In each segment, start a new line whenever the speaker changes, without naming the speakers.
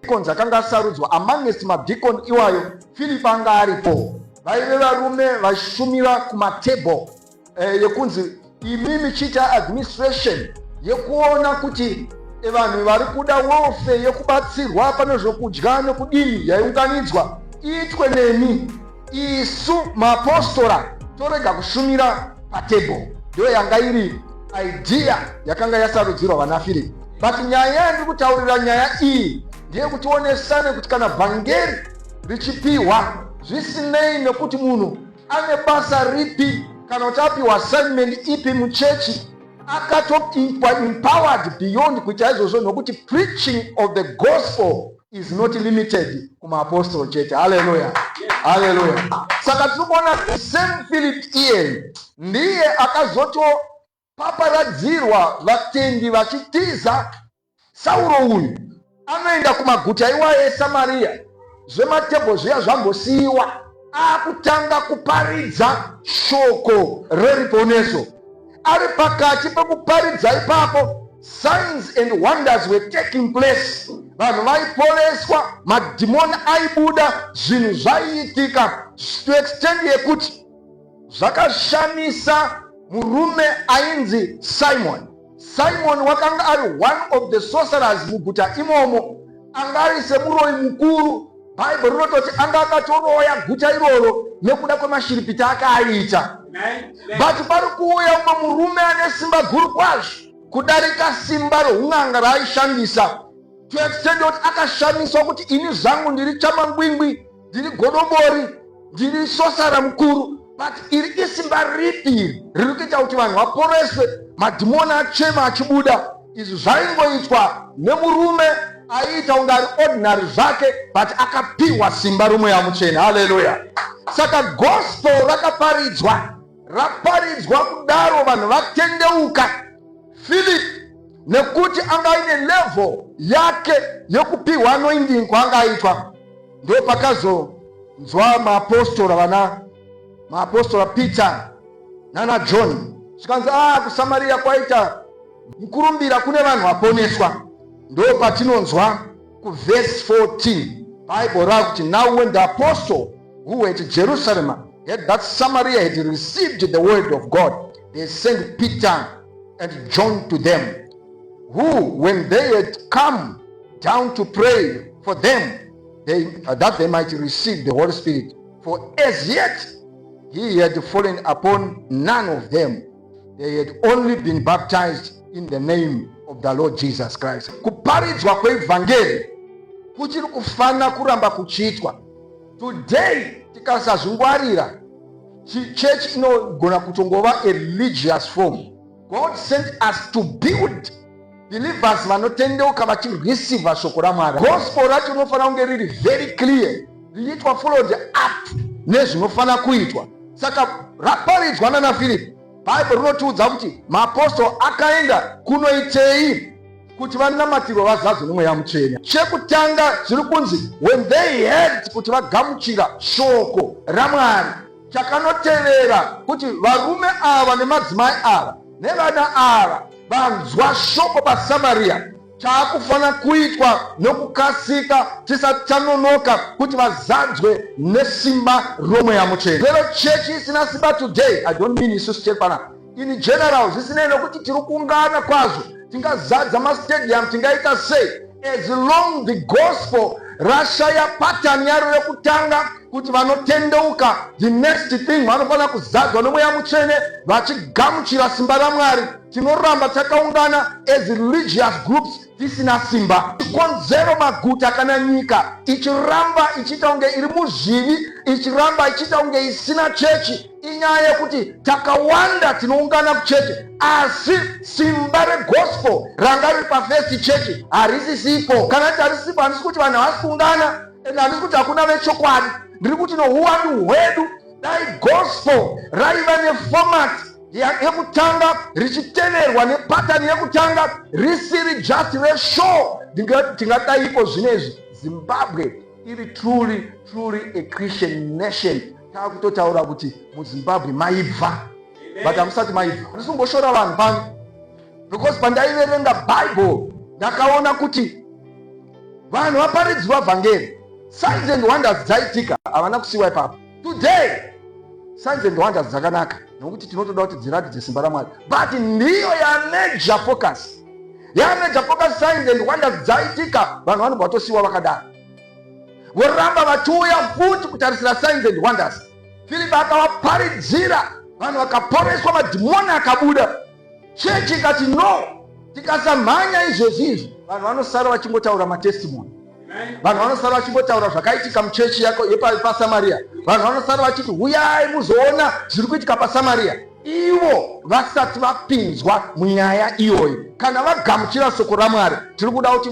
Deacons akanga asarudzwa amongst madeacon iwayo Philip anga aripo vaive varume vaishumira kumatable eh, yekunzi imi michiita administration yekuona kuti eh, vanhu vari kuda welfare yekubatsirwa pane zvokudya nekudini yaiunganidzwa iitwe nemi isu maapostora torega kushumira patable ndiyo yanga iri idea yakanga yasarudzirwa vanafiripi but nyaya yandiri kutaurira nyaya iyi ndeyekuti onesane kuti kana vhangeri richipiwa zvisinei nekuti munhu ane basa ripi kana kuti apiwa assignment ipi muchechi akatoimpowered beyond kuita izvozvo nokuti preaching of the gospel is not limited kumaapostolo chete haleluya haleluya saka tiri kuona the same philip iyeye ndiye akazotopaparadzirwa vatendi vachitiza sauro uyu anoenda kumaguta iwaye esamariya zvematebho zviya zvambosiyiwa akutanga kuparidza shoko reruponeso ari pakati pekuparidza ipapo signs and wonders were taking place vanhu vaiporeswa madhimoni aibuda zvinhu zvaiitika to extend yekuti zvakashamisa murume ainzi simon Simoni wakanga ari one of the sorcerers muguta imomo, anga ari semuroyi mukuru. Bhaibheri rinototi anga akatoroya guta iroro nekuda kwemashiripita ake aiita. But pari kuuya umwe murume ane simba guru kwazvo kudarika simba roun'anga raaishandisa to extend kuti akashamiswa kuti ini zvangu ndiri chamangwingwi ndiri godobori ndiri sosara mukuru but iri isimba ripi iri riri kuita kuti vanhu vaporeswe madhimoni achema achibuda izvi zvaingoitwa nemurume aiita kunge ari ordinary zvake but akapiwa simba romweya muchena haleluya saka gospel rakaparidzwa raparidzwa kudaro vanhu vatendeuka philip nekuti anga aine level yake yekupiwa anoindingwa anga aitwa ndo pakazonzwa maapostora vana maapostora Peter nana John zvikanzi a ah, kusamariya kwaita mukurumbira kune vanhu vaponeswa ndo patinonzwa kuvhesi 14 bhaibheri rakuti now when the apostle who were at jerusalem had that samaria had received the word of god they sent peter and john to them who when they had come down to pray for them they, that they might receive the Holy Spirit. For as yet he had fallen upon none of them. They had only been baptized in the name of the Lord Jesus Christ. Kuparidzwa kweevhangeri kuchiri kufanira kuramba kuchiitwa. Today tikasazvingwarira church inogona kutongova a religious form God sent us to build believers vanotendeuka vachirwisiva shoko ramwari gospel racho rinofanira kunge riri very clear richiitwa followed up nezvinofanira kuitwa saka raparidzwa nana firipi bhaibheri rinotiudza kuti maapostoro akaenda kunoitei kuti vanamatirwa vazadzwe nemweya mutsvene chekutanga zviri kunzi when they heard kuti vagamuchira shoko ramwari Chakanotevera kuti varume ava nemadzimai ava nevana ava vanzwa shoko paSamaria chaakufanira kuitwa nokukasika tisati tanonoka kuti vazadzwe nesimba romweya mutsvene vero chechi isina simba today i don't mean isu sichekwana in general zvisinei nokuti tiri kuungana kwazvo tingazadza mastadium tingaita sei as long the gospel rashaya patani yaro rekutanga kuti vanotendeuka the next thing vanofanira kuzadzwa nomweya mutsvene vachigamuchira simba ramwari tinoramba takaungana as religious groups tisina simba chikonzero maguta kana nyika ichiramba ichiita kunge iri muzvivi ichiramba ichiita kunge isina chechi inyaya yekuti takawanda tinoungana kucheche asi simba regospel ranga riri pafirst chechi harisisipo kana ti harisipo handisi kuti vanhu havasi kuungana and handisi kuti hakuna vechokwadi ndiri kuti nouwandu hwedu dai gospel raiva neformat yekutanga richiteverwa nepatani yekutanga risiri just reshow tingadaiiko zvino izvi zimbabwe iri truly truly a christian nation Takutotaura kuti muZimbabwe maibva but hamusati maibva. Handisi kumboshora vanhu pano because pandaiverenga Bible ndakaona kuti vanhu vaparidzwa vhangeri signs and wonders dzaitika havana kusiwa ipapo today signs and wonders dzakanaka nokuti tinotoda kuti dziratidze simba ramwari but ndiyo yamajor focus yamajor focus signs and wonders dzaitika vanhu vanobva vatosiwa vakadaro voramba vachiuya futi kutarisira signs and wonders filipi akavaparidzira vanhu vakaporeswa madhimoni akabuda chechi ikati no tikasamhanya izvezvi izvi vanhu vanosara vachingotaura matestimoni vanhu vanosara vachingotaura zvakaitika muchechi yako yepasamariya vanhu vanosara vachiti huyai muzoona zviri kuitika pasamariya ivo vasati vapinzwa munyaya iyoyo kana vagamuchira soko ramwari tiri kuda kuti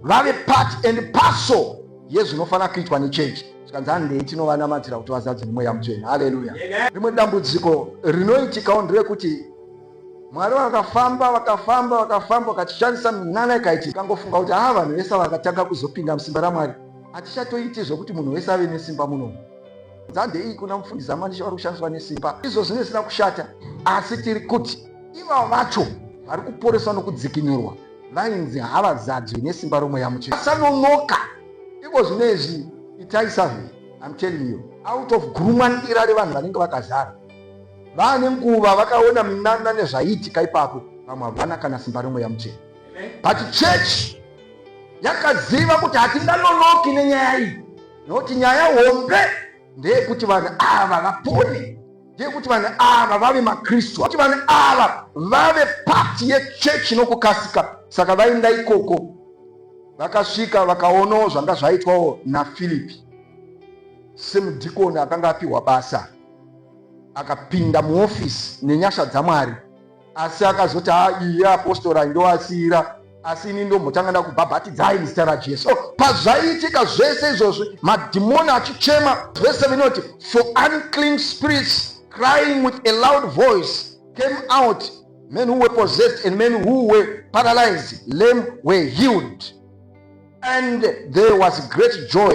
vave part and parcel yezvinofanira kuitwa nechechi zvikanzi handei tinovanamatira kuti vazadze nemweya mutsvene haleluya rimwe dambudziko rinoitikawo nderekuti mwari vakafamba vakafamba vakafamba vakatishandisa minana ikaiti ikangofunga kuti haa vanhu vese vakatanga kuzopinda musimba ramwari hatichatoiti zvokuti munhu wese ave nesimba munomu nzande iyi kuna mufundisi amanisha vari kushandiswa nesimba izvo zvine zvisina kushata asi tiri kuti ivavo vacho vari kuporeswa nokudzikinurwa Vainzi havazadzwi nesimba romweya mutsvene. Asanonoka. Iko zvino izvi itai survey. I'm telling you. Out of gurumwandira revanhu vanenge vakazara. Vane nguva vakaona minana nezvaiitika ipapo. Vamwe havana kana simba romweya mutsvene. But church yakaziva kuti hatinganonoki nenyaya iyi. Nokuti nyaya hombe ndeyekuti vanhu ava vapone. ndeyekuti vanhu ava vave makristu kuti vanhu ava vave pati yechechi nokukasika saka vainda ikoko vakasvika vakaonawo zvanga zvaitwawo nafilipi semudhikoni akanga apiwa basa akapinda muofisi nenyasha dzamwari asi akazoti ha iye apostora ndovasiira asi ini ndombotanga ndakubhabhatidzai muzita rajesu oh, pazvaiitika zvese izvozvi madhimoni achichema vese vinoti for unclean spirits crying with a loud voice came out men who were possessed and men who were paralyzed lame were healed and there was great joy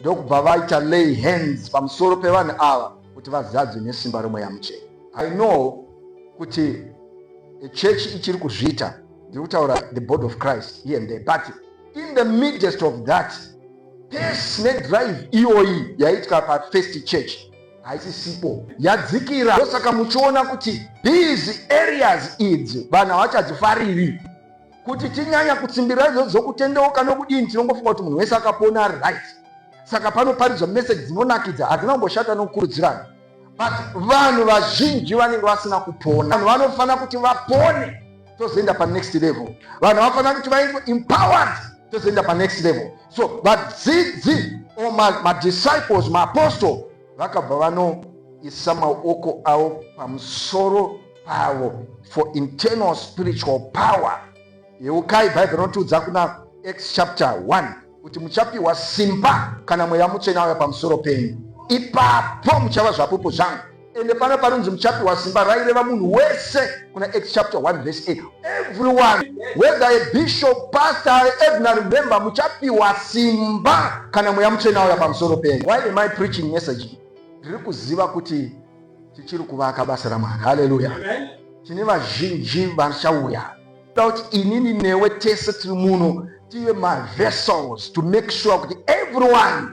ndokubva vaita lay hands pamusoro pevanhu ava kuti vazadzwe nesimba remweya muchena i know kuti chechi ichiri kuzviita ndiri kutaura the body of christ here and there but in the midst of that pesi nedrive iyoyi yaitwa pafirst church haisisipo yadzikira ndosaka muchiona kuti these areas idzi vanhu havachadzifariri kuti tinyanya kutsimbirira izvozvo zvokutendeuka nokudini tinongofunga kuti munhu wese akapona ari right saka panoparidzwa meseji dzinonakidza hadzina kumboshata nokukurudzirana but vanhu vazhinji vanenge vasina kupona vanhu vanofanira kuti vapone tozoenda panext level vanhu vanofanira kuti vaitwe empowered tozoenda panext level so vadzidzi or madisciples maapostle vakabva vanoisa maoko avo pamusoro avo for internal spiritual power yeukai bhaibheri rotiudza kuna acts chapter 1 kuti muchapiwa simba kana mweya mutsvene auya pamusoro penyu ipapo muchava zvapupu zvangu ende pano panonzi muchapiwa simba raireva munhu wese kuna acts chapter 1 verse 8 everyone whether a bishop pastor ordinary member muchapiwa simba kana mweya mutsvene auya pamusoro penyu why am i preaching message ndiri kuziva kuti tichiri kuvaka basa ramwari haleluya tine vazhinji vachauya toda kuti inini newe tese tiri muno tive mavessels to make sure kuti everyone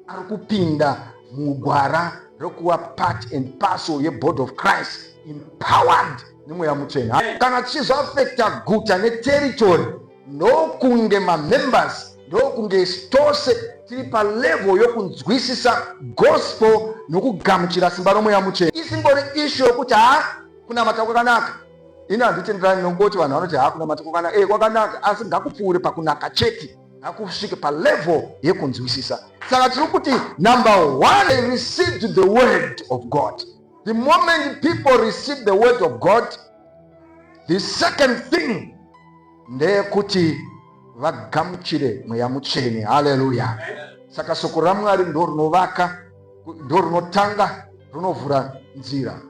ari kupinda mugwara rekuva part and parcel yebody of christ empowered nemweya mutsvene kana tichizoafekta guta neteritory ndokunge mamembers ndokunge tose tiri palevel yokunzwisisa gospel nokugamuchira simba romweya muchena isingori ishu yokuti ha kunamata kwakanaka ini handitenderani nokungoti vanhu vanoti ha kunamata kwakanaka e kwakanaka asi ngakupfuure pakunaka chete ngakusvike palevel yekunzwisisa saka tiri kuti number one they received the word of god the moment people receive the word of god The second thing ndeyekuti vagamuchire mweya mutsvene. Haleluya! Saka soko raMwari ndo rinovaka, ndo rinotanga rinovhura nzira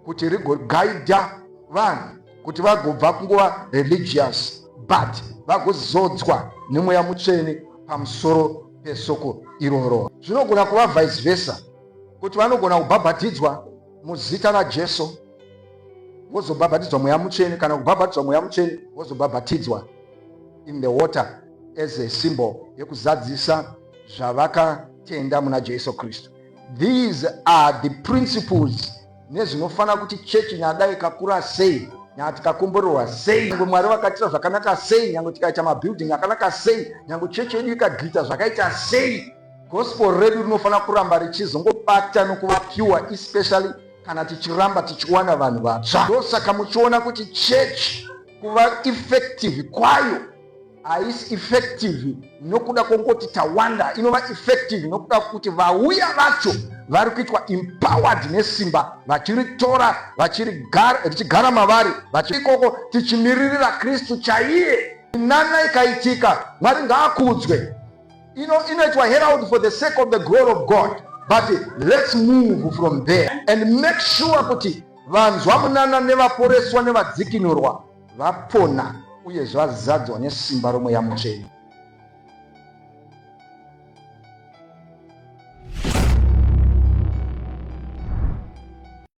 kuti rigogaidha vanhu kuti vagobva kunguva religious but vagozodzwa nemweya mutsvene pamusoro pesoko iroro. Zvinogona kuva vice versa kuti vanogona kubhabhatidzwa muzita raJesu vozobhabhatidzwa mweya mutsvene kana kubhabhatidzwa mweya mutsvene vozobhabhatidzwa in the water as a symbol yekuzadzisa zvavakatenda muna Jesu Kristu. These are the principles nezvinofanira kuti chechi nyadai kakura sei nyanga tikakomborerwa sei nyange mwari vakaitira zvakanaka sei nyange tikaita mabuilding akanaka sei nyange chechi yedu ikagita zvakaita sei Gospel redu rinofanira kuramba richizongobata nokuva pure especially kana tichiramba tichiwana vanhu vatsva. Ndosaka muchiona kuti chechi kuva effective kwayo haisi effective nokuda kwokungoti tawanda, inova effective nokuda kwokuti vauya vacho vari kuitwa empowered nesimba vachiritora richigara mavari vachiikoko tichimiririra kristu chaiye inana ikaitika mwari ngaakudzwe ino inoitwa herald for the sake of the glory of god but let's move from there and make sure kuti vanzwa munana nevaporeswa nevadzikinurwa vapona uye zvazadzwa nesimba romweya mutsvene